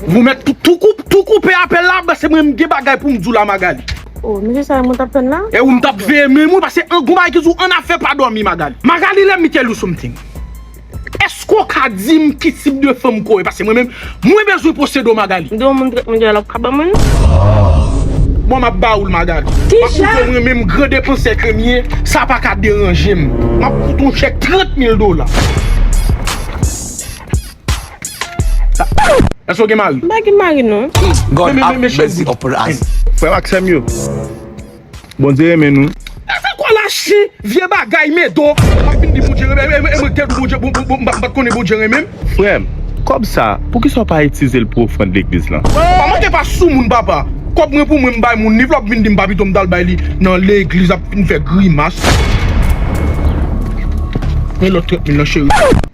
Mwen met tou koupe apel la bas se mwen mge bagay poum di w la Magalie. Oh mesye sa e mwen tap tann la. E ou m tap veye men mwen pase an gon bagay ki di w an afè pa domi Magalie. Magalie let me tell you something eske w ka dim ki tip de fanm ke w ye pase mwen menm mwen bezwen posede w Magalie. M di yon moun trèt mwen genlè wap ka banm l. Bon map ba ou l Magalie. Map prouve w mwen menm gran depansè ke m ye sa paka deranje m. Map fout ou chèk 30 mil dola. Èske w gen mari? M pa gen mari non. God ap bèzi ou plas. Frè m ak sè m yo, Bondye renmen nou. E se kwa la chen vye bagay medo. Wap vin di Bondye renmen m e mwen ki te di Bondye m pat konnen Bondye renmen m. Frè m, kòb sa poukisa w pa itize l pou ofrand legliz lan? Papa mwen te pa sou moun papa. Kòb mwen pou mwen m bay moun li epi wap vin di m pa pito m tal bay li nan legliz ap vin fè grimas. Men lòt 30 mil lan cheri.